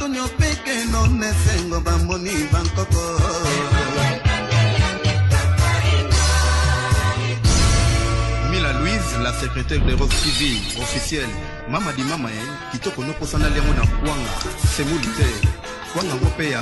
Tonio peke no nesengo bamoni bankoko Mila Louise, la secrétaire de Rock TV, officielle. Mama di mama, eh, kitoko no posana liango na kwanga, semouli te. Kwanga ngo pe ya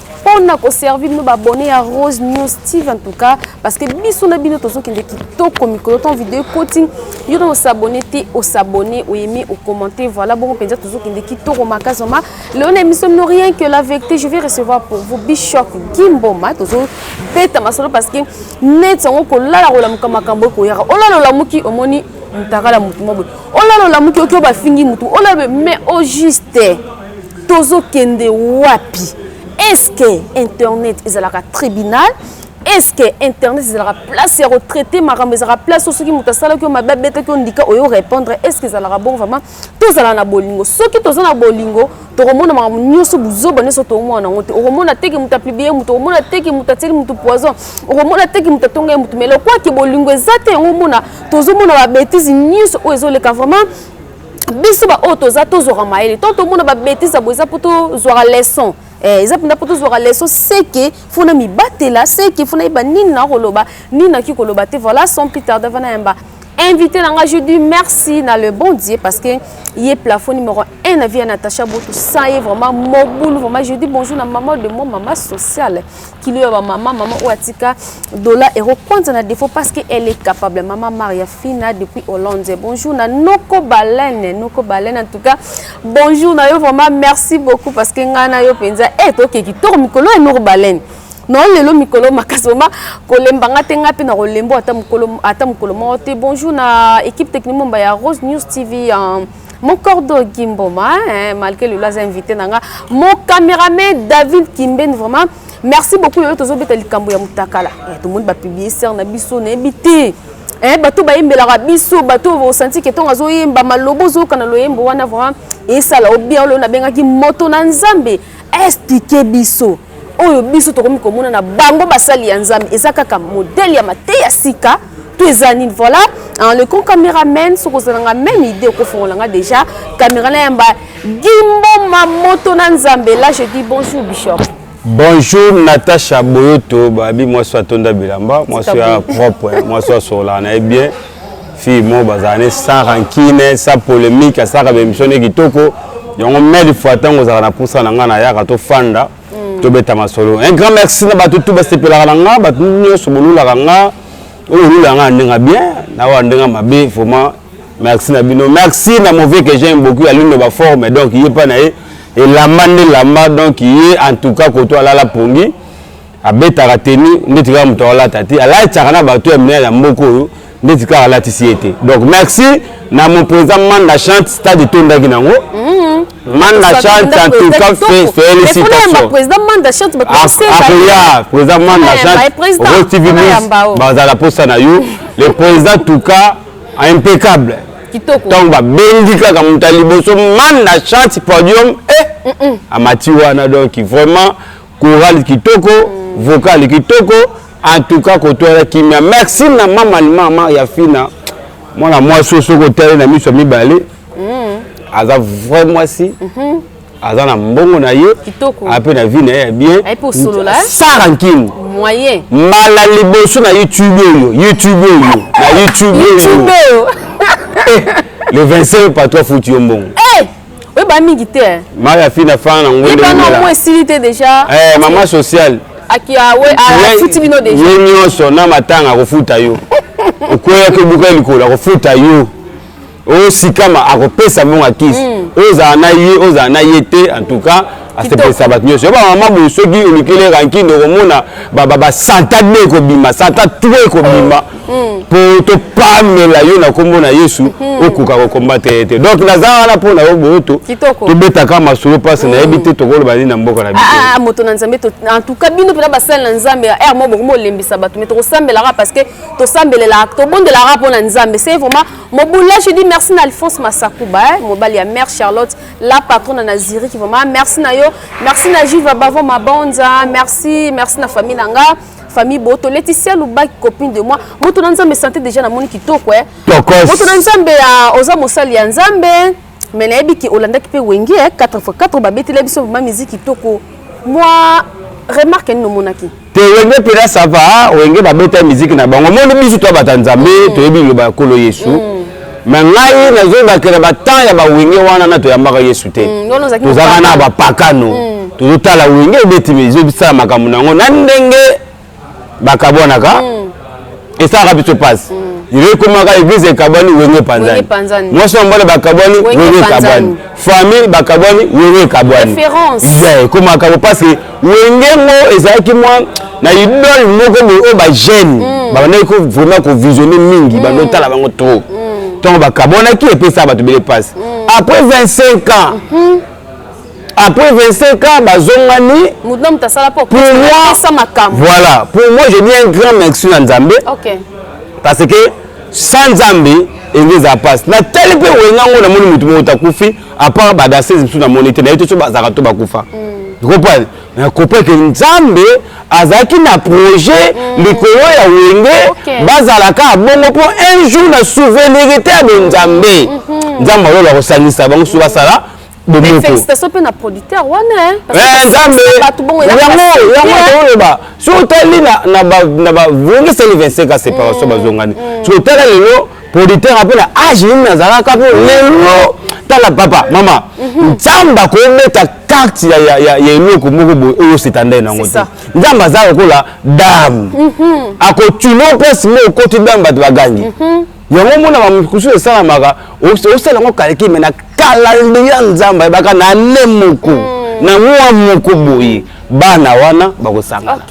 pona ko servir bino ba abonné ya Rose News TV en tout cas parce que biso na bino tozokende kitoko mikolo ton vidéo coaching yo na osabone te osabone oyemi okommente voilà bongo mpenza tozokende kitoko makasi ma leo na émission no rien que la vérité je vais recevoir pour vous bishop gimboma tozobeta masolo parce que neti yango kolala kolamuka makambo ekoyaka olala olamuki omoni mutakala mutu mwa boye olala olamuki oki oyo bafingi mutu olala mais au juste tozokende wapi eske internet ezalaka tribunal eske internet ezalaka place ya kotraite makambo ezalaka place oyo soki moto asalaki yo mabe abetaki ondika oyo répondre eske ezalaka bon vraiment tozala na bolingo soki toza na bolingo tokomona makambo nyonso buzoba nyonso tokomona yango te okomona teke moto apublie moto okomona teke moto atieli moto poison okomona teke moto atongai moto mais lokwaki bolingo eza te yango omona tozomona babetise nyonso oyo ezoleka vraiment biso baoyo toza tozwaka mayele to tomona babetise boye eza mpo tozwaka leson eh, eza mpenza mpo tozwaka leson seke fona mibatela seke fona yeba nini na koloba nini naki koloba te voilà son peter davana yamba invité na ngai je dis merci na le bon dieu parce que ye plafond numéro 1 na vie ya natacha botu sans ye vraiment mobulu vraiment je dis bonjour na maman de moi maman sociale kilo ya bamama mama oyo atika dola ekokwanza na défaut parce que elle est capable mama maria fina depuis hollande bonjour na noko balene noko balene en tout cas bonjour na yo vraiment merci beaucoup parce que ngai na yo mpenza e eh, toke kitoko mikolo ya noko balene no lelo mikolo makasi vraimen kolemba nga te ngai mpe na kolembo ata mokolo moko te bonjour na équipe technique momba ya rose news tv mon cordo gimboma hein, malgré lelo aza invité na nga mon cameraman david kimben vraiment merci beaucoup lelo tozobeta likambo ya mutakala eh, tomoni bapiblie ser na biso nayebi te eh, bato bayembelaka biso bato osanti ke ntongo azoyemba maloba ozoyoka na loyembo wana vraiment esala obien lelo nabengaki moto na nzambe explike biso oyo biso tokomi komona na bango basali ya nzambe eza kaka modele ya mateya sika to eza nini voilà en le con cameraman soki ozalanga même idée okofongola nga déjà camera na yamba gimboma moto na nzambe là je dis bonjour bishop bonjour natacha boyoto babi mwasi atonda bilamba mwasi ya propre mwasi asolana ye bien fille moko bazala ne sans rancune sans polémique asalaka baémission ne kitoko yango mille fois ntango ozalaka na mposa na ngai nayaka tofanda mm. tobeta masolo un grand merci na bato tu basepelaka na ngai bato nyonso bolulaka ngai oyo olulaka ngai na ndenge bien na oyo ndenge mabe vraiment merci na bino merci na mauvais que j'aime beaucoup ya lino baforme donc ye mpa na ye elamba nde elamba donc ye en tout cas koto alala pongi abetaka tenu ndeti kaka moto akolata te alataka na bato ya minene ya mboka oyo ndeti kaka alatisi ye te donc merci na mon président manda chante stade etondaki nango mhm. manda chante en tout cas félicitationakoya président manda chante rose tv news bazala posa na yo le président tout cas impeccable ntango babendi kaka moto ya liboso manda chante podium e eh, amati wana donc vraiment Chorale kitoko, vocal kitoko, en tout cas kotoya kimia. Merci na mama mama ya Fina. Mwana mwasi oyo soki otali na miso ya mibale mm. aza vrai mwasi mm -hmm. aza na mbongo na ye ape na vie na ye ya bien eh? sara nkini mbala liboso na youtube oyo youtube oyo na youtube oyo eh, le 25 patro afuti yo mbongo eh! oyeba mingi te eh. mai afi na fana na ngwendeyebanamoi esili te déjà eh, mama sociale afuti ah, bino deja ye nyonso na matanga akofuta yo okweyaki obuka likolo akofuta yo osikama akopesa mbongo ya kisi hmm. ozala na ye ozala na ye te en tout cas asepelisa bato nyonso yo bamama boye soki olukeli rankine okomona basanta de ekobima santa tro ekobima mpo mm. topamela yo na nkombo na yesu mm. okoka kokombate ye te donk naza wana mpo na yo boyoto tobetaka masolo mpasi mm. nayebi te tokoloba nini na mboka na biso ah, ah, moto na nzambe entouka bino mpena basali na nzambe ya r mo bokomi olembisa bato me tokosambelaka parce que tosambelelaka tobondelaka mpo na nzambe se vraiment mobulashi di merci na alphonse masakuba eh, mobali ya mare charlotte la patrona na Zurich vraiment merci na yo merci na Jiva Bavo Mabonza merci merci na famille na nga famille Boto Laetitia Lubaki copine de moi moto na Nzambe santé déjà na moni kitoko eh moto na Nzambe ya oza mosali ya Nzambe mais nayebi ki olandaki mpe wenge 4x4 babetela biso vraiment musique kitoko mwa remarque nini omonaki te wenge pena sava wenge babeta miziki na bango omoni biso to bata nzambe mm. toyebi liloba ya nkolo yesu mm. me ngai nazobakela batemp ya bawenge wana na toyambaka yesu te mm, tozalaka na bapakano mm. tozotala wenge ebeti ezobisala makambo na yango na ndenge bakabwanaka mm. esalaka biso mpasi lelo mm. ekomaka eglise ekabwani wenge epanzani mwasi na mobali bakabwani wenge ekabwani famille bakabwani wenge ekabwani ekomaka bo parce que wenge ngo ezalaki mwa na idole moko boye oyo bajeune mm. babandaki ko vraiment kovisionne mingi mm. bandotala bango trop ntongo bakabwanaki epesaka bato bele mpasi après 25 ans mm-hmm. après 25 ans bazongani pour moi voilà pour moi je dis un grand merci na nzambe okay. parce que sans nzambe enge eza mpasi natali mpe wenga yango namoni motu moko takufi apart badasese mosusu namoni te naye te so bazalaka to bakufa mm. comprendre nakopa ke nzambe azalaki na projet mm. likolo ya wenge okay. bazalaka bongo mpo un jour na souvenirité ya bonzambe mm -hmm. nzambe alola kosangisa bango so basala bomoko félicitation mpe na producteur wana eh, nzambe yango yango oloba so otali na bavongi seli 25 a séparation mm, bazongani mm. so otala lelo producteur mpe na age nini nazalaka mpo mm. lelo tala papa mama mhm. nzambe akobeta karte ya eloko moko boye oyo osetandai nango te nzambe aza lokola dame mhm. akotuna mpasi mo okoti dame bato bagangi mhm. yango omona bamosusu esalamaka osala yango kaleki me na kalaleli ya nzambe ayebaka na ne moko hmm. na mwa moko boye bana wana bakosangana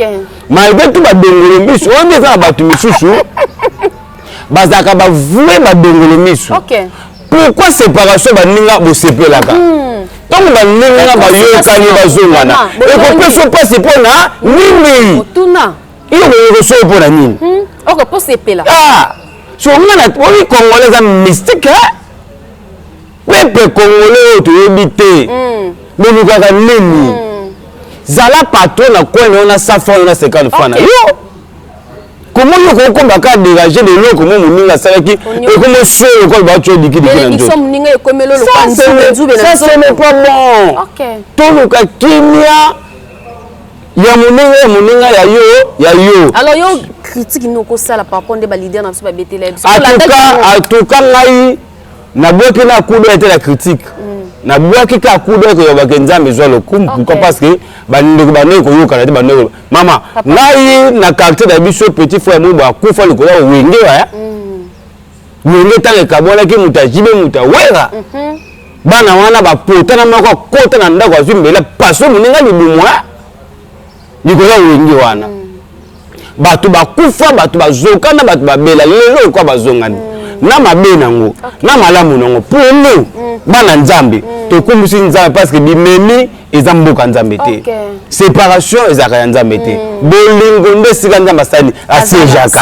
malgre tu badongolo miso wana eza na bato misusu bazalaka bavue badongolo miso pourquoi séparation baninga bosepelaka hmm. ntango baninga bayokani bazongana ekopesa mpasi mpo na nini Yo ko so pour la nini? Hmm, oko po sepela. Ah! So nga na oyi congolais za mystique hein? Pepe congolais oyo toyebi te. Hmm. Bolukaka nini? Hmm. Zala patron na coin na yo na 100 francs na 50 francs na yo. comment yo kokomba ka déranger de loko mo moninga asalaki ekomo solo lokola bato odikidiki na nzotosa ce n'est pas bon toluka kimia ya moninga ya moninga ya yo ya yo alors yo critique nini okosala par rapport nde balider na biso babetela biso atuka ngai nabwaki na kudo ete na critique mm. nabwaki ka kudo ete yobake nzambe ezwa lokumu pourquoi parce que bandeko bandeko koyokana te bandeko mama ngai na quartier na biso petit frère mobo akufa likolo ya wenge waya mm. yonde ntango ekabwanaki moto ya jibe moto ya wera mhm. bana wana bapotana moko akota na ndako azwi mbela paso moninga libumwa likolo ya wenge wana mm. bato bakufa bato bazokana bato babela lelo ekwa bazongani mm. na mabe nango na malamu nango pour nous mm. bana nzambe tokumbusi nzambe parce que bimemi eza mboka nzambe te okay. séparation ezalaka ya nzambe te mm. bolingo nde esika nzambe asali asejaka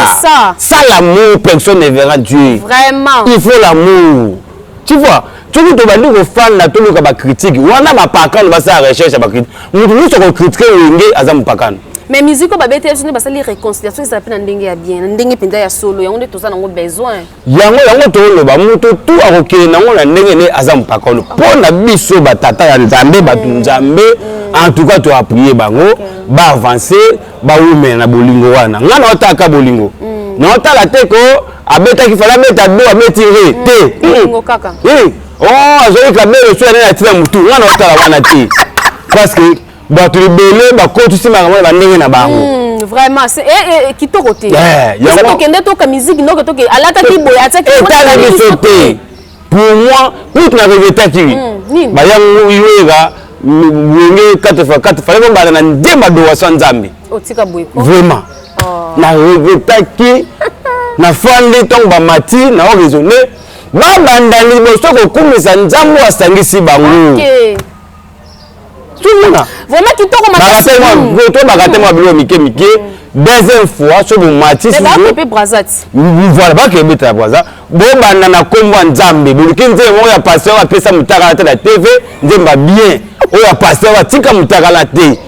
sa l'amour personne ne verra dieu Vraiment. il faut l'amour tu vois soki tobandi kofanda toluka bakritike wana bapakano basala recherche ya bakritike moto nyonso akokritike wenge aza mopakano mais musique oyo babeteli biso nde basali réconciliation ezala mpe na ndenge ya bien na ndenge mpenza ya solo yango nde toza nango besoin yango yango toloba moto tu akokende nango na ndenge ne aza mpaka ono mpo na biso batata ya nzambe bato mm. nzambe mm. en tout cas toappuye bango baavance bawumela na bolingo wana ngai naotalaka bolingo mm. naotala te ko abetaki fala abeta do abeti re te o oh, azwaki kabelo so ya nani atina motu ngai naotala wana te parce que bato ebele bakotisi makambo na bandenge na bango hmm, vraiment eh, eh, eh, kitoko te tokende toka miziki noko toke alataki boye atiakietala biso te pour moi kutu na regretaki hmm, bayango yoyeka wenge 4 fois 4 fallait kombanda na nde badowaso ya nzambe vraiment oh. na regretaki nafandi ntango bamati na o raisonne babanda liboso kokumisa nzambe asangisi bango okay. tozomona vraiment kitoko makasitobaka te mwa biloko mike mike deuxième fois so bomatisipe brazat voilà baka ebeta ya braza bobanda na nkombo ya nzambe boluki nzembo moko ya paster oyo apesa motakala te na tv nzemba bien oyo ya paster oyo atika motakala te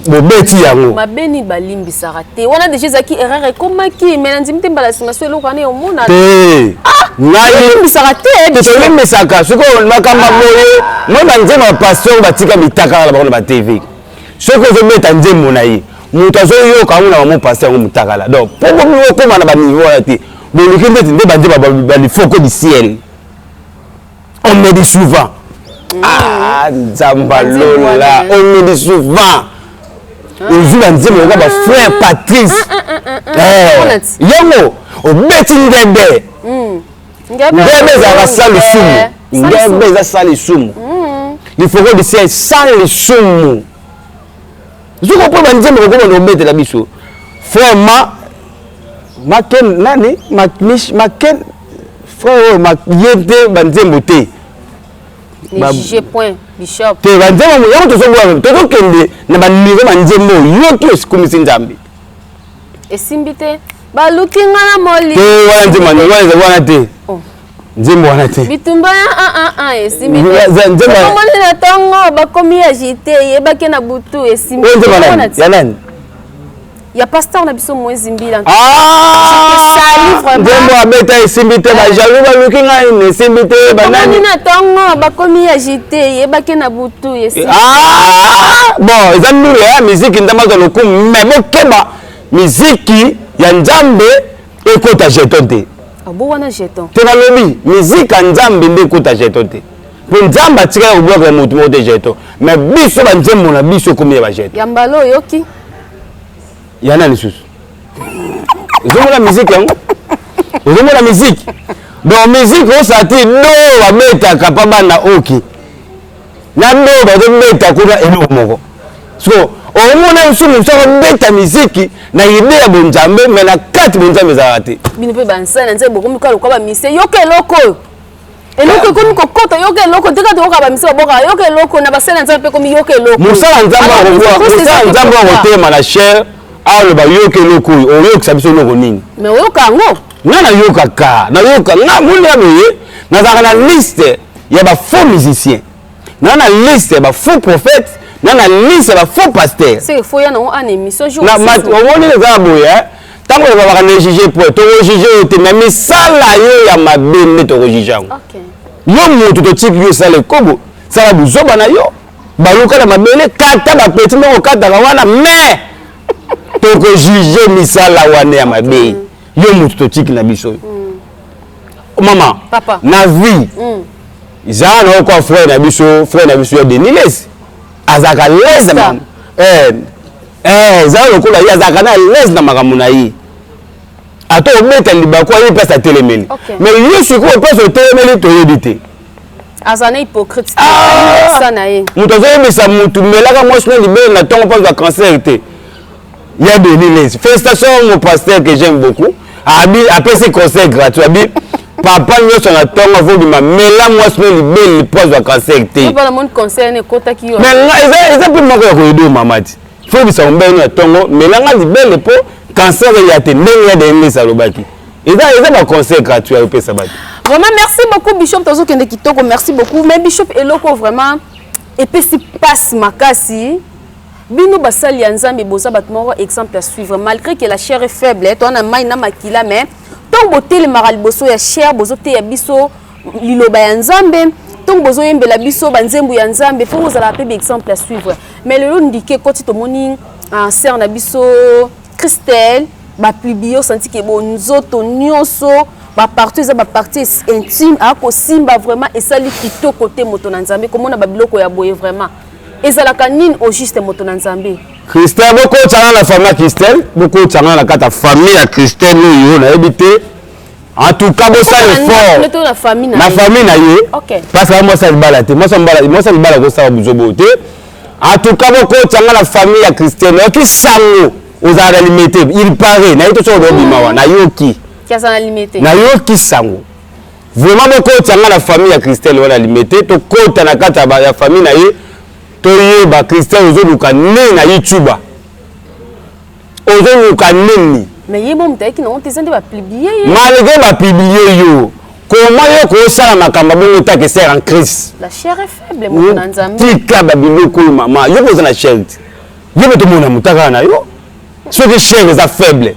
bobeti yango mabe nini balimbisaka te wana deja ezalaki erreur ekomaki mai na ndimi te mbala nsima so eloko wana eomona te ah! nalimbisaka te eh, tolimbisaka sikoyo makambo ah! boye moi banzembo ya pasteur batika bitakaka na bango na batv soki ozobeta nzembo na ye moto azoyoka yango na bango pasteur yango motakala donc mpo bomi okóma na baniveau wana te boluki ndeti nde banzembo balifoko du ciel on me dit souvent mm. ah nzamba lola on me dit souvent ah. ozwi banzembo lokola bafrère ah. patrice ah, eh, yango obeti ngende mm. ngende ezalaka sa lisumu ngende eza sa lisumu lifoko mm. lisia sa lisumu soki opo banzembo kokoma na obetela biso frère ma maken nani maken frère oyo ma ye te ba nzembo te ba juge point bishop te ba nzembo yango tozo bwa tozo kende na ba niveau ba nzembo yo ki osikumisi nzambe esimbi te baluki nga na moli te wana nzembo wana wana te oh. nzembo wana te bitumba ya ah, ah, ah, esimbiomoni na ntongo bakomi agite yebaki na butu esimbi ya nani ya pasteur na biso moise mbila nzembo ah! abeta esimbi te bajaloux baluki ngai na esimbi te banani na ntongo bakomi ya jite yebake na butu esimbi ah! bon eza ndulu ya miziki nzambe azwa lokumu me bokeba miziki ya nzambe ekota jeton te abo ah, wana jeton te nalobi miziki ya nzambe nde ekota jeton te mpo nzambe atikala kobwakela moto moko te jeton me biso banzembo na biso ekomi ya bajeton ya mbala oyoki ya nani susu ezomona miziki yango ezomona miziki donc miziki osati do babetaka mpa bana oki na do bazobeta kuna eloko moko so omona nsusu mosu akobeta miziki na ide ya bonzambe me na kati bonzambe ezalaka te bino mpe bansali na nzambe bokomi kaka lokola bamise yoka eloko oyo eloko ekomi kokota yoka eloko te kati oyoka bamisi babokaka yoka eloko na basali ya nzambe mpe ekomi yoka eloko mosala nzambe akotema na chere aloba yoka eloko oyo oyokisa biso eloko nini me oyoka yango nga nayokaka nayoka nga moni ya boye nazalaka na liste ya bafaux musicien na na liste ya ba faux prophète na na liste ya ba faux pasteur omoni eza ya boye eh? ntango ezalaka na juge po tokojuge yo te me misala yo ya mabe nde tokojuge yango yo moto totiki yo esala ekobo sala buzoba na yo baluka na mabele kata bapeti ndenge okataka wana me tokojuge misala wana ya mabe yo moto totiki na biso yo mm. mama papa na vie mm. zala na oko frère na biso frère na biso ya deniles azalaka lese na eh, eh, zala lokola ye azalaka na lese na makambo na ye ata obeta libaku ayebi mpasi atelemeli mais yo sikoyo mpasi otelemeli toyebi te aza na hypocrite ah! na ye moto azoyebisa motu melaka mwasi na libele na ntongo mpo azwa cancer te ya Denis Lesi. Félicitations mon pasteur que j'aime beaucoup. Abi apesi conseil gratuit. Abi papa nyonso na ntongo avodima mela mwasi no libeli lipwazwa cancer te eza mpe moko ya koyedo mama ti fobisa mombeni na ntongo melanga libele mpo cancer eya te ndenge ya denlesi alobaki eza baconseil gratuit ayopesa bato vraiment merci beaucoup bishop tozokende kitoko merci beaucoup mais bishop eloko vraiment epesi mpasi makasi Bino basali ya Nzambe boza bato moko exemple à suivre malgré que la chair est faible eh, toana mai na makila mais ntango botelemaka liboso ya chair bozoteya biso liloba ya Nzambe ntango bozoyembela biso banzembo ya Nzambe mpo ozalaka mpe exemple à suivre mais lelo ndike ekoti tomoni ah, sœur na biso Christelle baplibio osanti ke bo nzoto nyonso baparti eza baparti intime akosimba vraiment esali kitoko te moto na nzambe komona babiloko ya boye vraiment ezalaka nini au juste moto na nzambe christelle bokotanga na famille ya christelle bokotanga na kati ya famille ya christelle oyo nayebi te en tout cas bosala effort na famille na ye mpasi ya mwasi ya libala te mwasi ya libala kosala buzobo te en tout cas bokotanga na famille ya christelle nayoki sango ozala na limete il paraît nayebi to soki odobima wa nayoki nayoki sango Vraiment bokotisa nga na famille ya Christelle wana limete tokota na kati ya famille na ye toyeba Christelle ozoluka nini na YouTube ozoluka nini mais ye mo mutayaki na honte eza nde bapublie ye malgré bapublie yo koma yo kosala makambo bongo ta ke sere en crise tika babiloko oyo mama yo mpe oza na shere te yo mpe tomona motakala na yo soki shere eza faible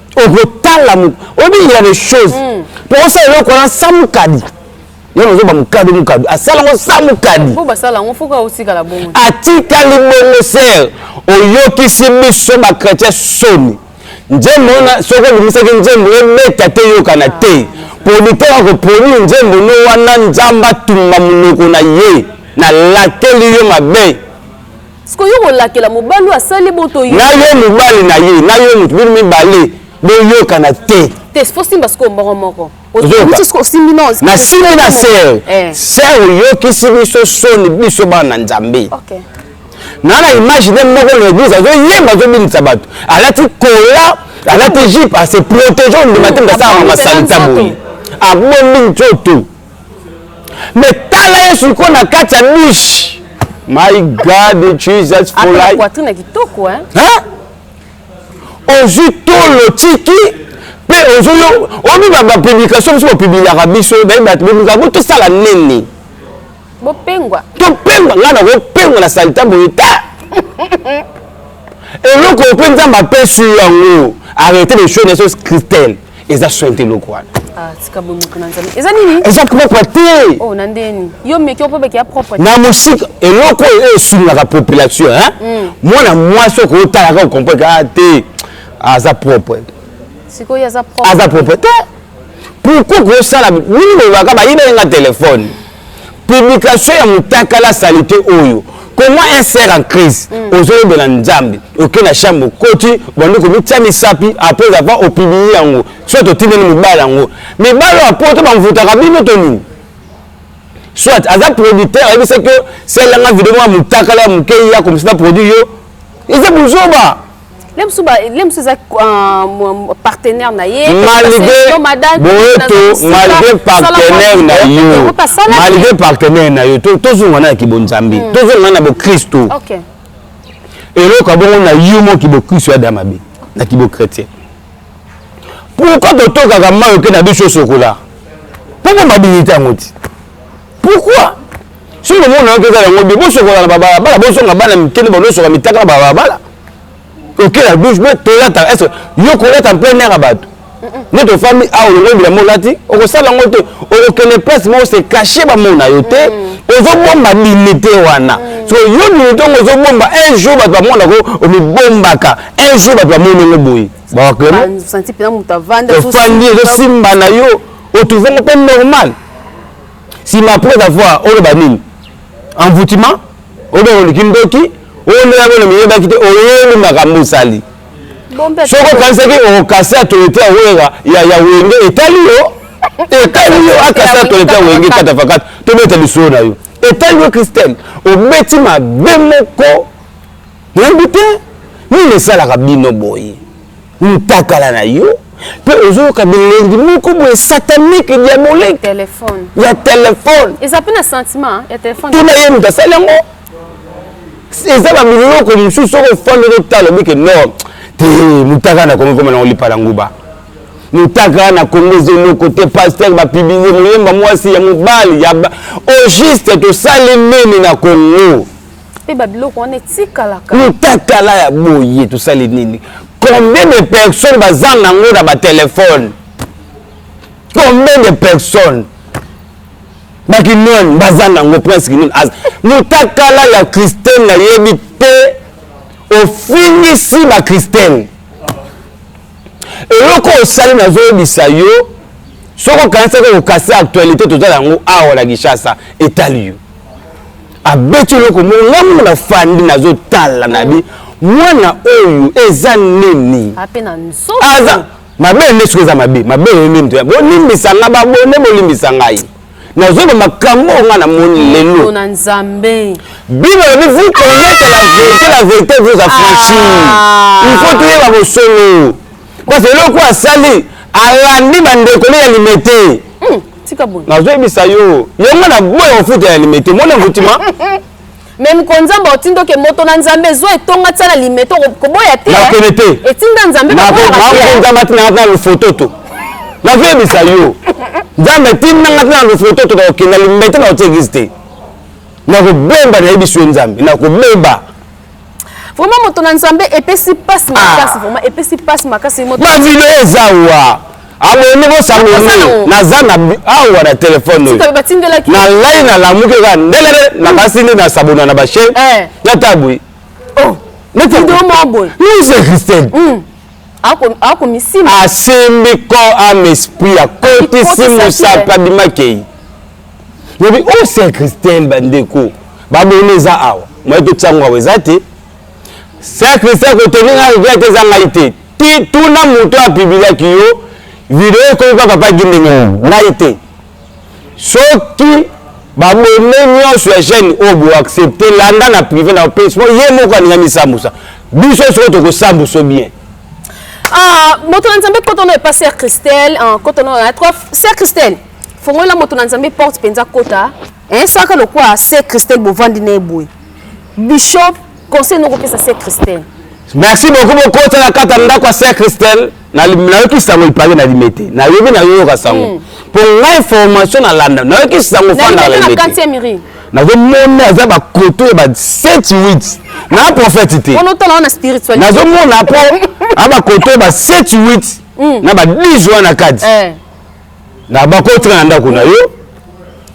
okotala obingira de choses hmm. po osala eloko wana sa mokadi yo nazoba mokadi mokadi asala ngo sa mokadi atikali bongo ser oyokisi biso bachrétien soni nzembo wana soki obimisaki nzembo ebeta te eyokana te ah. producteur akoproduire nzembo no wana nzambe atumba monoko na ye nalateli yo mabe siko yo kolakela mobali oyo asali boto yo na yo mobali na ye na yo moto bino mibale boyokana te te fosimba sikoyo mbongo moko nasimbi na ser eh. ser oyokisi biso soni biso bana nzambe naa na image nde moko na eglise azoyemba azobinisa bato alati kola alati jipe ase protege ondima te ndasala masalita boye abombi nzoto mais tala ye siko na kati ya niche my god jesus for life poitrine kitoko hein hein ozwi tolo tiki mpe ozwi yo omi ba publication biso bapubliaka biso naye bato bolinga bo tosala nini bopengwa topengwa ngai nakopengwa na salita boye ta eloko mpe nzambe apesi yango arrete de show na esos christelle eza soin te eloko wana ah, eza nini eza propre te oh, na ndeni yo meki opobeke ya propre na mosika eloko oyo eh, esungaka population hmm. mwana mwasi oko otalaka okompreke a ah, te aza propre sikoyo aza propre te pourkoi kosala nini olobaka bayibelenga telefone publication ya mutakala salite oyo comment un ser en crise mm. ozoyebela nzambe oke na chambre okoti obandi komitya misapi apres ava opibili yango soit otindeli mobali yango mibali oyo apoto bamvutaka bino to nini soit aza producteur ayebisaki yo selanga video mwa motakala ya moke ya komisi na produit yo eza bozoba malgré partenaire na yo malgré partenaire na yo tozonga na ya kibonzambe hmm. tozonga na bokristu eloko ya bongo na yo mo kibokristu ya da mabe na kibokretien pourkoi totokaka mai oke na biso sokola mpo bomabinite yango ti pourquoi soki lomona yoki eza yango bie bosokola na babalabala bozonga bana mike nde banosoka mitaka na babalabala okela douche boye tolata est yo kolata plein air ya bato nde tofami awa ah, olongo bilamba olati okosala yango te okokende place moko se cache bamona yo te mm. ozobomba dignité wana mm. so yo dignité yango ozobomba un jour bato bamonako omibombaka un jour bato bamoni yango boye bawaklemoofandi ezosimba na yo otuvango mpe normal sima après avoir oloba nini envoûtement obe oliki ndoki oyoya bolo miyebaki te oyebi makambo osali soki okanisaki okasi atolete ya wera ya wenge etali yo etali yo akasi atolete ya wenge katafakata tobeta lisolo na yo etali yo christelle obeti mabe moko nayebi te nini esalaka bino boye mutakala na yo mpe ozoyoka bilengi moko boye satanique diabolique ya telefone eza mpe na sentiment ya telefone tuna ye moto asali yango eza na biloko mosusu soki ofandi otala obike no te motaka na kongo ekoma nango lipa na nguba motaka na kongo eza eloko te paster bapibize moyemba mwasi ya mobali ya au juste tosali nini na kongo mpe babiloko wana etikalaka mutakala ya boye tosali nini combien de personnes bazanga yango na batelefone combien de personnes bakinoni bazanga yango prince kinoni mutakala ya christine nayebi te ofingisi bakristene eloko osali nazoyebisa yo soki okanisaki okokasi actualité tozala yango awa na kinshasa etali yo abeti eloko moko nga moko nafandi nazotala na bi mwana oyo eza nini aza mabe nde soki eza mabe mabe nini bolimbisa nga babone bolimbisa ngai nazoloba makambo oyo ngai namoni lelo bino olobi vous connaissez la vérité la vérité vous affranchir ah. il faut toyeba bosolo parce eloko asali alandi bandeko ne ya limete hmm, nazoyebisa yo yango na boya kofuta ya limete mona nkutima me mkonzambe otinda oke moto na nzambe ezwa etonga tia na limete koboya te nakende te etinda nzambekonzambe atindanga tina lofoto to nazoyebisa yo nzambe etindanga tina lofoto to nakokenda limete na otie eglise te nakobomba nayebisi yo nzambe nakobeba vraiment moto na nzambe epesi pasi ah. makasi vraiment epesi pasi makasi moto na video eza wa abonde bosango nini naza na awa na telefone oyo na lai nalamuki kaka ndelele nakasi hmm. nde nasabona na bashe eh. natabwi oh. nuse christine hmm. akomisima asimbi ko ame esprit akotisi mosaka bimakei lobi o oh, saint christelle bandeko babona eza awa moye totia yango awa eza te saint christelle kotondi nga rivière te eza ngai te ti tuna moto apibiliaki yo video ekomi mpa papa gindenge hmm. ngai te soki babone nyonso ya gene oyo oh, boaccepte landa na prive na pesi mpo ye moko alinga misambusa biso soko tokosambuso bien ah, moto na nzambe kotono epa sœur christelle ah, kotono na trois sœur christelle fongolela moto na nzambe porte mpenza kota eh, saka lokwa se christelle bovandi na eboye bishop conseil nokopesa se christelle merci beaucoup bokota na kata ndako ya se christelle nayoki sango lipake na limete nayebi nayoyoka sango hmm. mpo ngai formation nalanda nayoki sango fanda na limete nazomona aza bakoto ya ba 7 8 na prophète te nazomona mpo a bakoto ya ba 7 8 na ba 10 wana kati eh. na bakotika na ndako na yo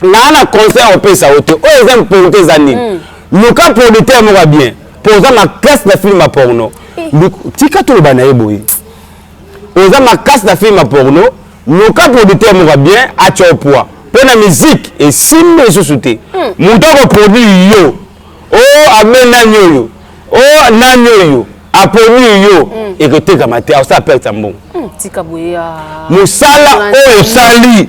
naa na conseil opesa yo te oyo eza mponte eza nini mm. luka producteur moko ya bien mpo oza makasi na filme ya porno eh. tika toloba na ye boye oza makasi na filme ya porno luka producteur moko ya bien atya opoi mpo na miziki esimbi lisusu te hmm. moto akoproduire yo o oh, abe nani oyo o oh, nani oyo aponi yo mm. ekotekama te akosala perte ya mbongo mm, ah. mosala oyo osali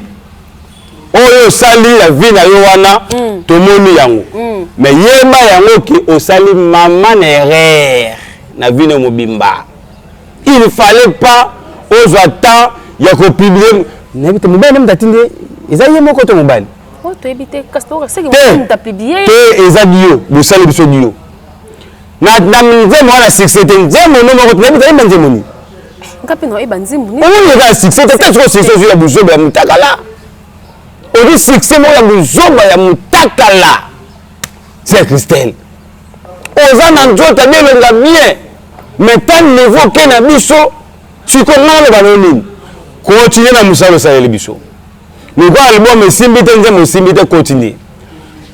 oyo osali ya vi na yo wana mm. tomoni yango mm. me yeba yango ke osali mama na erreur na vi na mobimba il fallait pas ozwa temps ya kopiblie nayebi te mobali nde atindi eza ye moko to mobali oh, te eza dio bosali biso dio na na nzembo wana succès te nzembo no moko tunayebi tayemba nzembo nini nga mpe naoyeba nzembo nini oyo eza succès te kati oyo succès ozwi ya buzoba ya mutakala obi succès moko ya buzoba ya mutakala c'est christelle oza na nzoto abelonga bien mais ta niveau ke na biso sikoyo nga naloba no nini continue na mosala osaleli biso lokola album esimbi te nzembo esimbi te continue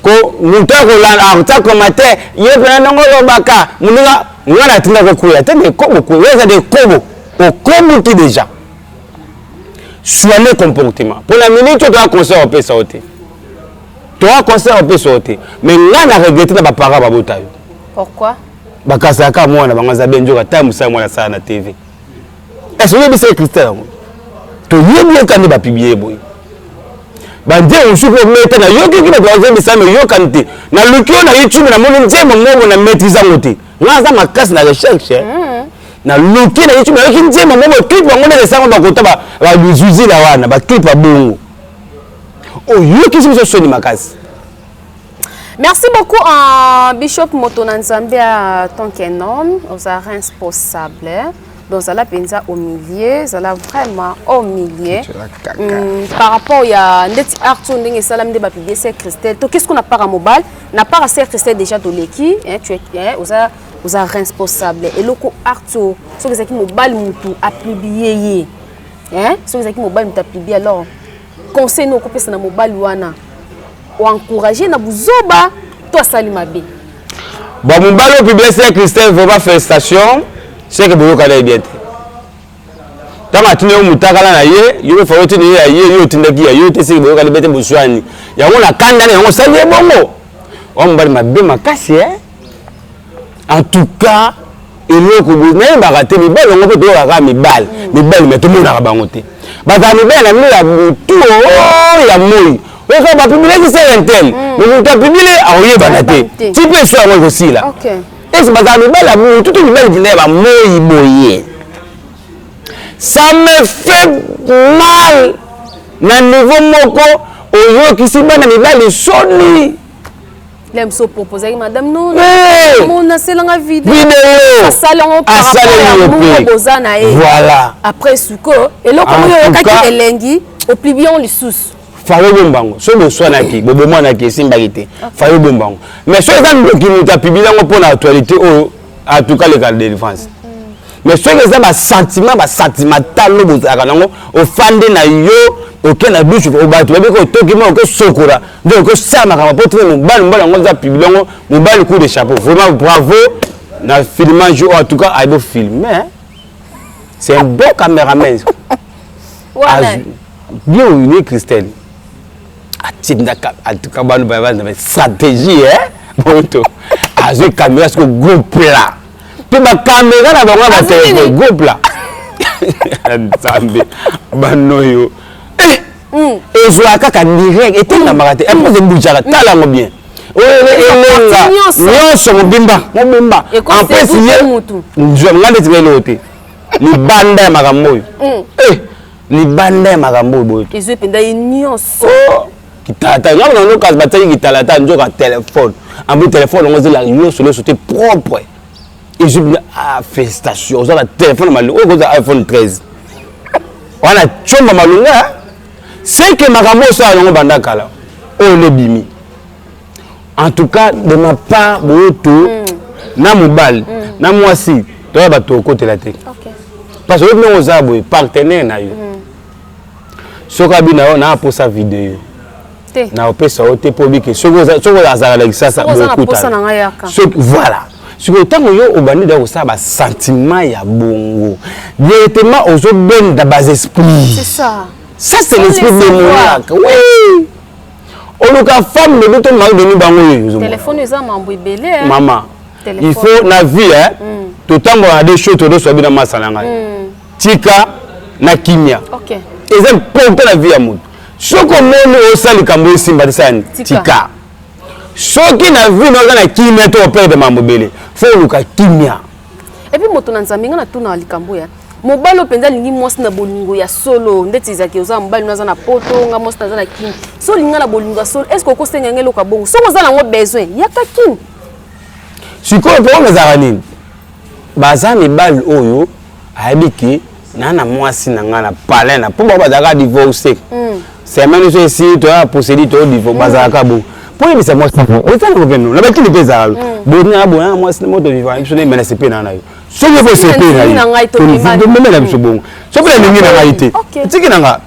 ko moto akolanda akotia komate ye mpena ndongo olobaka moninga nga natinda kokwela te dekobo kwela eza dekobo okomuki deja soine comportement mpo na minute oyo toya conseil opesa yo te toya conseil opesa yo te mais nga na regrete na baparent babota yo bakasaka mwana bango aza be nzoka ta mosala mwana asala na tv Est-ce que c'est Christian yango? To yebi ye kande ba publier boye. Ba nzembo mosusu oyo meta na yoki ki bato bazebisa me yokani te. Na luki oyo na YouTube na moni nzembo moko na maîtrise yango te. Nga aza makasi na recherche. Eh? Mm. Na luki na YouTube na yoki nzembo moko clip yango nde esango bakota ba ba bizuzila wana ba clip ya bongo. Oyoki biso soni makasi. Merci beaucoup uh, Bishop moto na Nzambe ya tant qu'un homme oza responsable donc zala mpenza au milieu zala vraiment au milieu mm, par rapport ya ndeti art oyo ndenge esalami nde bapiblie ser christel to qu'est-ce qu'on a para mobile na para ser christel déjà toleki eh, tu es, eh, oza oza responsable eloko art oyo soki ezalaki mobali motu apiblie ye eh, soki ezalaki mobali motu apiblie alors conseil nokopesa na mobali wana o encourager na buzoba to asali mabe bon mobali oyo publicité ya christelle vraiment félicitation seke boyokana ye bien te ntango atindi yo motakala na ye yo mpe fao otindi ye ya ye yo otindaki ya yo te seke boyokani bete boswani yango na kanda na yango osali ye bongo oa mobali mabe makasi e eh? en tout cas eloko boye nayebaka te mibali yango mpe toyokaka kaka mibali mibali me tomonaka bango te bazala mibali na bino ya butu oh, ya moi oyoka bapibilaki sere intel mm. me moto apibile akoyebana te ti mpe esu yango ekosila esi bazala mibali ya butu to mibali mpenza ya bamoi boye ça me fait mal na niveau moko oyokisi bana mibali soni Lem so proposaki madame non eh! mon naselanga video asali yango par rapport ya moko boza na ye voilà après suko eloko oyo oyokaki elengi oplibi yango lisusu fayo bombango so boswanaki bobomwanaki esimbaki te fayo bombango mais so eza ndoki moto apibili yango mpo na actualité oyo en tout cas leka délivrance mais soki eza basentiment basentimentalo bozalaka nango ofande na yo oke na dushe bato bayebi ko otoki ma okosokola nde okosala makambo mpo tine mobali mobali yango eza pibli yango mobali coup de chapeau vraiment bravo na filmage oyo en tout cas ayebi ofilme c'est un bon cameraman bien oyo christelle atindaka antuka bano baza na stratégie e moto azwi kamera siko groupe la mpe bakamera na bango ya batelefone groupe la nzambe banoyo eh! hmm. ezwaka kaka direct etengamaka te mpoze hmm. ebujaka tala yango bien elenga nyonso mobimba mobimba ampesi ye nzwa nga ndetinga eloko te libanda ya makambo oyo hmm. eh! libanda ya makambo oyo boyoki ezwi mpenza ye nyonso oh, kitalata ngai na ndoka batiaki kitalata nzoka telefone ambi telefone yango ezela nyonso nyonso te propre ezwi mpenza ah, félicitation oza na telefone malonga oyo kozala iphone 13 wana comba malonga seke makambo osala yango banda kala oyo nde bimi en tout cas de ma part boyoto mm. na mobali mm. na mwasi toya bato okotela te okay. parce que oyebi ndenge oza boye partenaire na yo mm. soki abina yo na aposa video yo na opesa yo te mpo bike soki azala na kisasa bokutana voilà sikoyo ntango yo obandi da kosala basentiment ya bongo directement ozobenda bas esprit ça c'est l'esprit démoniaque oui oluka femme lobi to mari boni bango oyo telefone eza mambo ebele eh. mama il faut na vie eh, mm. totambola na de show todoso abi na masa na ngai mm. tika na kimia okay. eza mponta na vie ya moto soki omoni osala likambo esimba tisani tika soki na vie na oza na kimia to operde mambo ebele fo oluka kimia epuis moto na nzambe ngai natuna likambo ya mobali oyo mpenza alingi mwasi na bolingo ya solo ndeti ezalaki oza na mobali no aza na poto nga mwasi naza na kini so olinga na bolingo ya solo estce okosenga yango eloko ya bongo soki oza nango besoin yaka kini sikoyo problème ezalaka nini baza mibali oyo ayebi ke naa na mwasi na ngai na palin na mpo bango bazalaka divorce hmm. semaine oso esili toya posedi toyo divorce hmm. bazalaka bongo mpo oyebisa mwasi eza na kopeno na bakini mpe ezalaka hmm. bonaa bonaa mwasi na moto vivaka biso na emenase mpe naa na yo soki okosi epai na ngai tolivandememela biso bongo soki nalingi na ngai te tiki na nga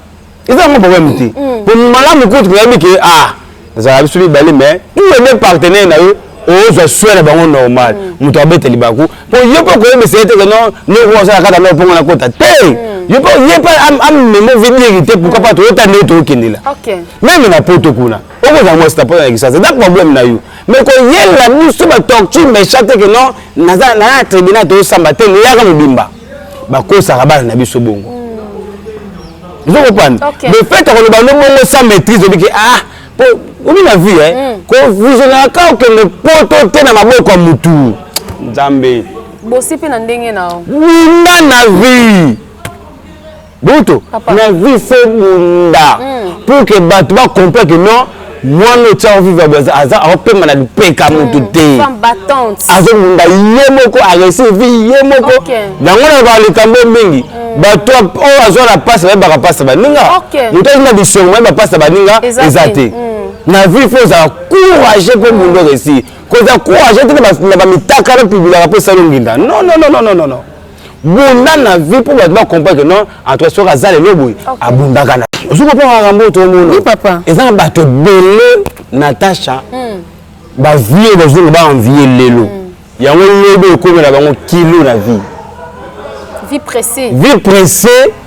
eza yango problème te po mm. malamu kutu koyebi ke a ah, ezalaka biso mibale mais tous les deux partenaire na yo ozwa soin na bango normal mm. moto abeta libaku po yo mpe okoyebisa ye te ke non noko osala kaka na opongo na kota te mm. yo mpe ye mpe amema ovedire te pourquoi pas toyota nde tokendela meme na poto kuna okozala mwasi na poto na kisasa eza problème na yo mais koyelela biso ba torture méchant te que non naza na tribunal tozosamba te leyaka mobimba bakosaka bana na biso bongo ozo kopanda le fait akoloba no bongo sans maîtrise obi ke ah po obi na vie eh hmm. kovisionaka kaka okende poto te na maboko ya motu nzambe bosi mpe na ndenge na yo bunda na vie butu na vie fo bunda hmm. pour que bato ba comprendre que non mwana oyo tia oviva aza akopema na lipeka hmm. motu te azobunda ye moko aresi vi ye moko yango na balikambo mingi hmm. bato oyo azwa na pasi bayebaka pasi baninga moto azwi na bisongo bayeba pasi baninga eza te na vie fo ozala courage mpo bunda oresi kozala courage te na bamitakala pibilaka mpo esali onginda non non non non non bunda na vie mpo bato ba comprendre que non en tout cas soki aza lelo boye abundaka na ozo comprendre makambo oyo toomona ezanga bato ebele natacha hmm. bavie bazongo baenvie lelo hmm. yango lobi ekomela bango kilo na vie vie pressée vie pressée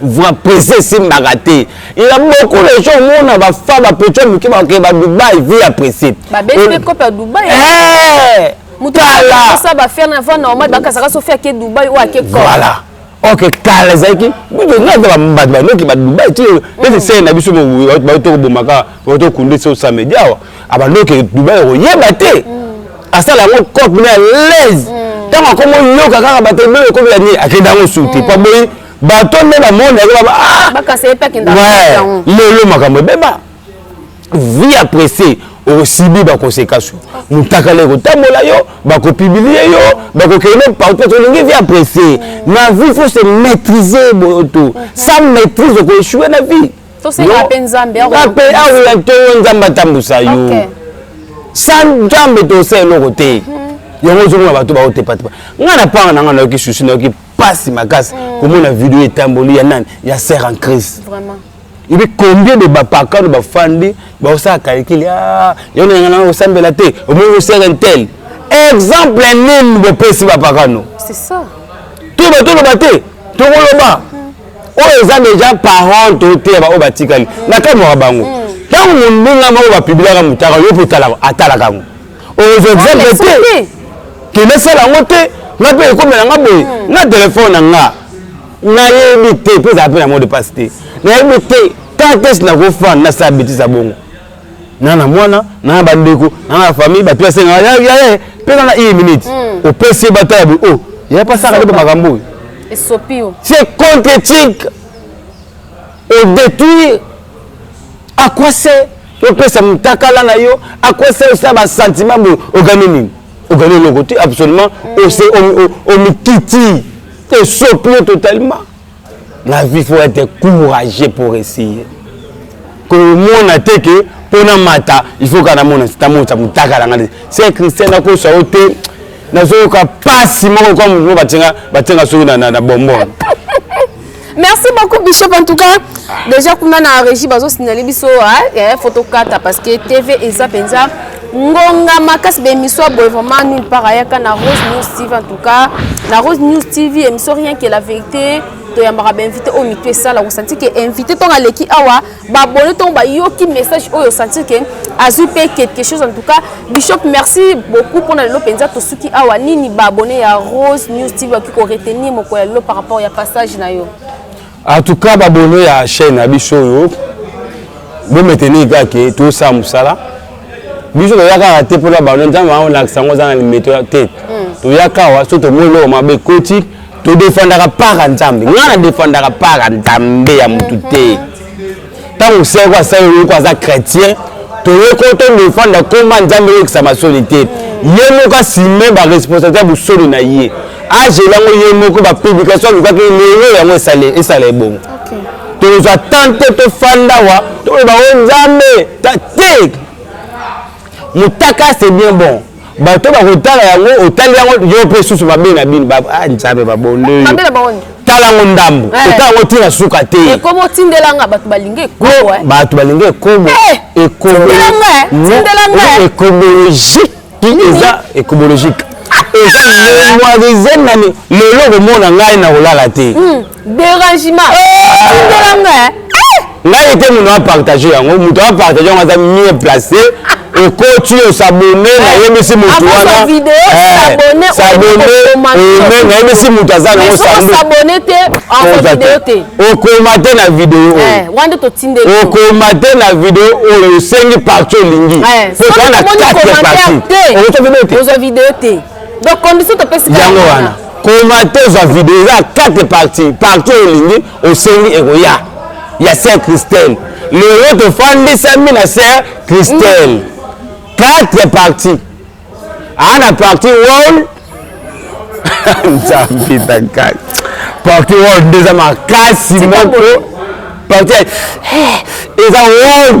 vra presse esimbaka te ya beaucoup les gens omona bafa bapeco moke bakee ba dubai vie ya presse voilà ok kala ezalaki bato banoki badubai ti ete sere na biso bato tokobomaka bato tokunde so samedi awa abanoki dubai okoyeba te asala yango cope na alaise ntango akomi oyoka kaka bato ebele ekomi ya nini akenda yango suti mpo boyi bato nde na monde yango baba ah! bakasa ye mpe akenda lelo makambo ebeba vie apresse osibi bakonsekansi motakala ekotambola yo bakopibilie yo bakokende partout olingi vie apresse mm. na vie faut se maîtriser boyoto mm-hmm. sans maîtrise okoechue na vie ape aoya to yo nzambe atambusa yo sans nzambe tosa eloko te mm-hmm. yango ozomona bato baotepatepa ngai na panga na ngai nayoki susi nayoki pasi makasi mm. komona video etamboli ya nani ya sœur en crise vraiment ebi combien de bapakano bafandi baosala kalikili ah, yo na yanga na osambela te omoni osere ntel exemple nini bopesi bapakano to batoloba te tokoloba hmm. oyo eza deja parent toteya baoyo batikali nakamwaka bango ntango hmm. mondinga moko bapibilaka motaka yo mpe atalaka yango ozwa exemple te ke nasala yango te nga mpe ekomela nga boye hmm. na telefone na nga nayebi te mpe ezala mpe na mode passe te nayebi te kakes nakofanda nasala betise ya bongo na na mwana na na bandeko na na famille bato basengaka yayaye mpe na na une minute hmm. opesi ye batala boye o oh, ya pasaka nde bamakambo oyo esopiyo c'est contre éthique odétruire à quoi c'est opesa mutakala na yo akwesa yo sa basentiment boye ogani nini ogani eloko te absolument ose omikiti esopi yo totalement la vie faut être courageux pour essayer komona te ke mpo na mata il faut kaka namona namonisa motakala ngai se christian nakosa yo te nazoyoka mpasi moko kwa moto mo batenga soki na bombona merci beaucoup bishop en tout cas déjà kuna na régie bazosinale biso eh, fotokata parce que tv eza mpenza ngonga makasi baémission ya boye vraiment nulle part ayaka na rose news tv en tout cas na rose news tv émission rien que la vérité toyambaka bainvité oyo mitu esala kosanti ke invité ntongo aleki awa babone ntongo bayoki message oyo osentir ke azwi mpe quelque chose en tout cas bishop merci beaucoup mpona lelo mpenza tosuki awa nini baabone ya rose news tv bakoki koretenir mokolo ya lelo par rapport ya passage na yo en tout cas babone ya chaîne na biso oyo bometenir kaka ke tosala mosala biso toya kaka te mpona bano nzambe aolakisa yango oza na limeto te hmm. toya kawa so tomoni loko mabe ekoti todefandaka para nzambe ngai nadefandaka para nzambe ya motu te ntango seko asali oyoko aza chrétien toyeko todefanda koma nzambe oyokisa masoni te ye moko asime baresponsabilité ya bosolo na ye agela yango ye moko bapublikation alukaki lelo yango esala ebongo tozwa tan te tofanda wa toloba o nzambe te motaka c'est bien bon bato bakotala yango otali yango yo mpe susu mabe na bino ah, nzambe babonde tala yango ndambo eh. otala yango ntina suka te eh, bato balingi ekobo eh, ecobologiki eza ecobologike eza memoirise nani lelo okomona ngai na kolala te hmm. derangement tindela nga eh? ngai te moto apartage yango moto apartage yango aza mieux placé okoti osabone eh, nayebisi motu wanasaboneome eh, nayebisi motu aza nango okoma te na video oyokoma te na video oyo osengi parti olingi po toa na 4 parti donc condition topesi yango wana komate ozwa video eza ya quatre parti parti oyo olingi osengi ekoya ya ser christelle lelo tofandisami na ser christelle quatre parti aa na parti wall nzambe takati parti wall nde eza makasi moko parti eza wall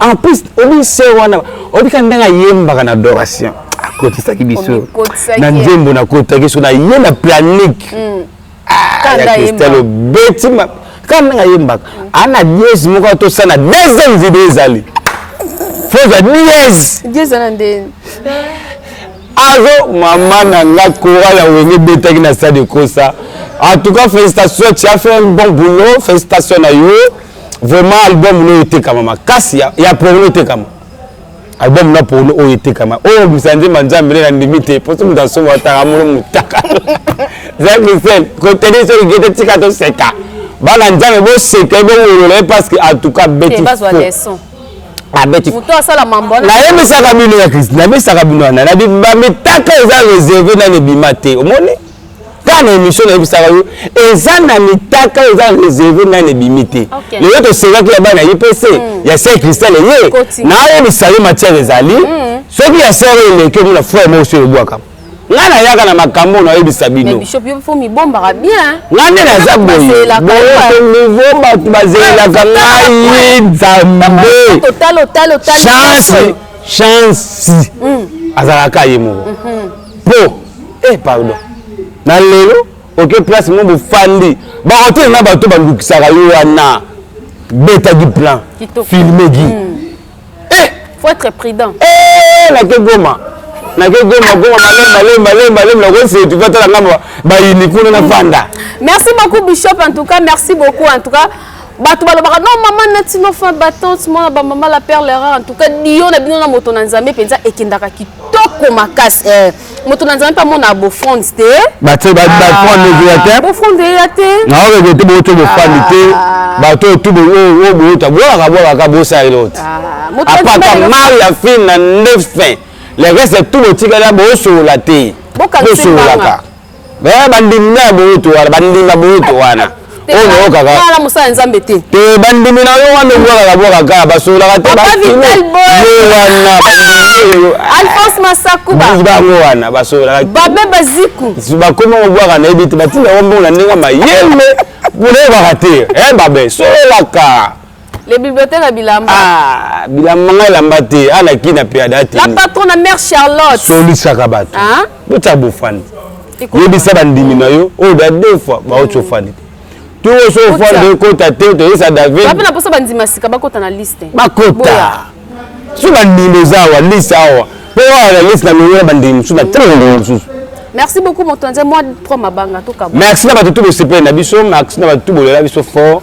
en plus obi se wana obi ka ndenge ayembaka na adoration akotisaki biso na nzembo nakotaki so naye na planique hmm. ah, ya cristal obeti kaka ndenge ayembaka hmm. ana diese moko atosana deuxième video ezali foza diese azo mama na nga coral ya wenge ebetaki na stade ekosa en tout cas félicitation tu as fait un bon boulot félicitation na yo vraiment album no etekama makasi ya, ya porno etekama album na porno oyo etekama oyo oh, misanze manzambe nde nandimi te mpo so moto asomba ataka mono motaka zakisel koteni soki gete tika toseka bana nzambe boseka ebongolola ye parce que en tout cas beti nayebisaka bino ya kristi nayebisaka bino wana na bamitaka eza reserve nani ebima te omoni kaka na émission nayebisaka yo eza na mitaka oyo eza réserve nani ebimi te lelo tosengaki ya bana ipc hmm. ya ser cristal eye nayebisa yo matière ezali hmm. soki ya ser oyo eleki omona frère moko so ebwaka ngai nayaka na makambo oyo nayebisa bino ngai nde naza boye boyekonivo bato bazelelaka ngai nzambe chance chance hmm. azalaka ye moko mhm. po eh pardon na lelo oke place mo bofandi bahotel na bato balukisaka yo wana beta du plan filme gi mm. eh! faut être prudent eh, nake goma nake goma goma malemba lemba lemba lemba nakosetu vatala ngambo bayini kuna na fanda merci beaucoup bishop en tout cas merci beaucoup en tout cas bato balobaka non mama nati no fin battante mwana bamama la perle rare en tout cas dio na bino na moto na nzambe mpenza ekendaka kitoko makasi eh. moto na nzambe mpe amona bofronde te bofronde ezoya te bofronde eya te naoyo te boyoto bofandi te bato oyo tu oyo boyota bolaka bolaka bosala elo te apaka mai ya fin na nde fin le reste tu botikala bosolola te bosololaka Eh, bandimi na boyoto wana bandima boyoto wana oyokakala mosala ya nzambe te te eh, bandimi na yo wana obwakaka bwaka kaka basololaka te wana alphonse masakuba bango wana basololaka babe baziku bakoma kobwaka nayebi te batinda yango mbongo na ndenge mayele boyebaka te eh, babe sololaka Les bibliothèques à Bilamba. Ah, Bilamba ngai lamba te, ana ah, kina pe adate. La patronne à mère Charlotte. Soli sakabat. Hein? Bota bofani. Yebisa bandimi na yo, oh da deux fois, ba ocho fani. Tu o so fani de kota te, to yesa David. Ba na posa bandima sika ba kota na liste. Ba kota. Su bandimi zawa liste awa. Po wa na liste na mwe bandimi su na tanga ndimi su. Merci beaucoup motonze moi pro mabanga to kabou. Merci na batutu bosepele na biso, merci na batutu bolela biso fort.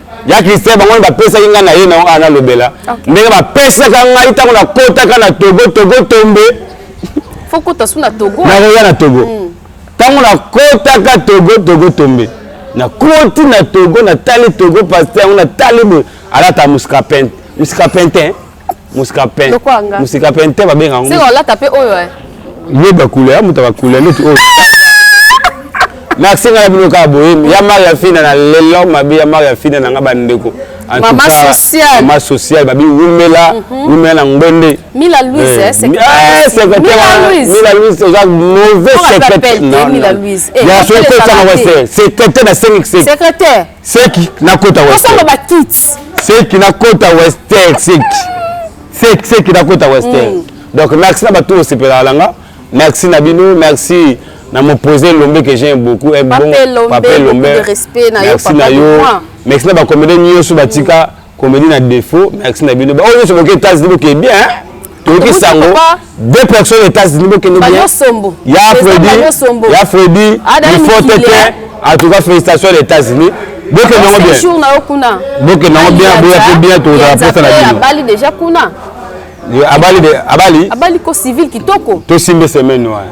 ya christian bango nde bapesaki ngai na ye na yango ana lobela ndenge bapesaka ngai ntango nakotaka na togo togo tombe nakoya na togo hmm. ntango nakotaka togo togo tombe nakoti na togo natali togo paster yango natali boye alata muscapente muscapente musika pen musika pen te babenga yango sika olata mpe oyo eh. ye bakule ya moto bakule neti oyo merci ngai na bino kaka boye ya mari ya fina na lelo mabe ya mari ya fina na ngai bandeko mama sociale mama sociale babi wumela mhm. wumela na ngbende mila louise eh, eh, eh secrétaire mila louise oza mauvais secrétaire non non ya so ko tsanga wa secrétaire na 5 secrétaire seki nakota western ba kits seki nakota western seki seki seki nakota western mm. donc merci na bato osepelaka na nga merci na bino merci na mopose lombe que j'aime beaucoup un bon pape lombe merci na yo merci na bakomede nyonso batika mm. Comédie na défaut, merci na bino. Ba oyo nyoso boke États-Unis boke bien. Hein? toyoki sango deux personnes états-unis bokende bien ya fredi ya fredi ifote te en tout cas félicitations les états-unis bokende yango bien bokende yango bien boya mpe bien tozala mposa na bino abali déjà kuna abali abali abali ko civil kitoko tosimbe semaine wana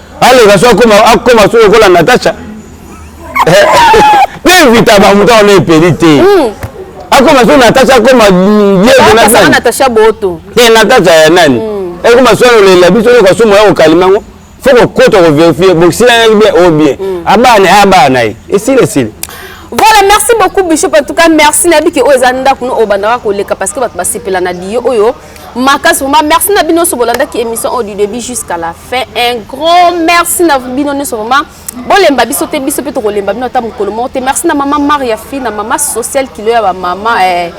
aleka so akoma akoma so lokola natacha devita bamutu wana epeli te hmm. akoma so natacha akoma yeenatacha boto e natacha ya nani hmm. ekoma so lolela biso yoka so moya kokalima yango fo kokota koverifie bokisilaki bien o oh bien hmm. abana ye abana na ye esili esili voilà merci beaucoup bishop en tout cas merci nayebi ke oyo eza ndako no oyo bandaka koleka parce que bato basepela na liyo oyo makasi vraiment merci na bino nyonso bolandaki émission oyo du début jusqu'à la fin un grand merci na bino nyonso vraiment bolemba biso te biso mpe tokolemba bino ata mokolo moko te merci na mama maria fi na mama sociale kilo ya bamama eh.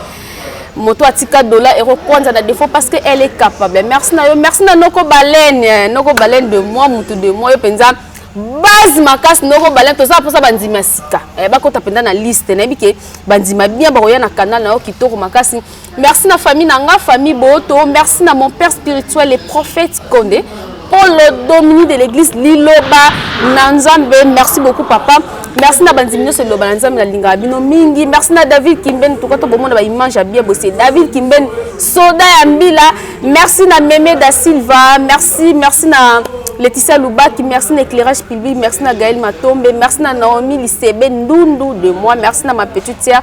moto atika dola ekokwanza na défaut parce que elle est capable merci na yo merci na noko balene eh. noko balene de moi motu de moi yo mpenza base makasi noko balene tozala mposa bandimi ya sika eh, bakota mpenza na liste nayebi ke bandima bien bakoya na canal na yo kitoko makasi Merci na famille na nga, famille Boto. Merci na mon père spirituel, le prophète Konde. Polo Domini de l'église Liloba na Nzambe. Merci beaucoup papa. Merci na bandimi nyonso Liloba na Nzambe na lingaka bino mingi. Merci na David Kimben tuka to bomona ba image ya bien bosse. David Kimben soda ya mbila. Merci na Meme da Silva. Merci, merci na Laetitia Lubaki, merci na éclairage public, merci na Gaël Matombe, merci na Naomi Lisebe Ndundu de moi, merci na ma petite sœur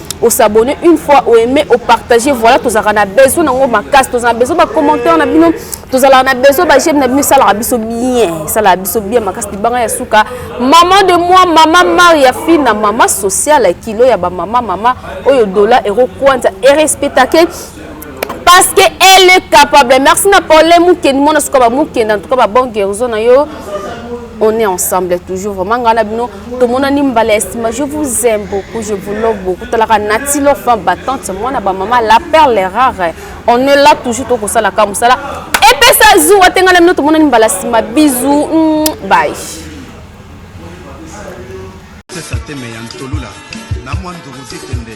au s'abonner une fois au aimer au partager voilà tozalaka na besoin nango makasi tozala na besoin bacommentaire na bino tozalaka na besoin bageme na bino esalaka biso bien esalaka biso bien makasi libanga ya suka maman de moi mama maria fina mama social ya kilo ya bamama mama oyo dola ero kwanza erespetake parce que elle est capable merci na paule mokeni mwana suka bamokenda en tout cas babon guérison na yo on est ensemble toujours vraiment ngai na bino tomonani mbala ya nsima je vous aime beaucoup je vous love beaucoup talaka nati lofa batante mwana bamama la perle rare on est là toujours tokosalaka mosala epesa zuwa te ngai na bino tomonani mbala ya nsima bizu mm, bai tesa teme ya ntolula na mwa ndugu te tende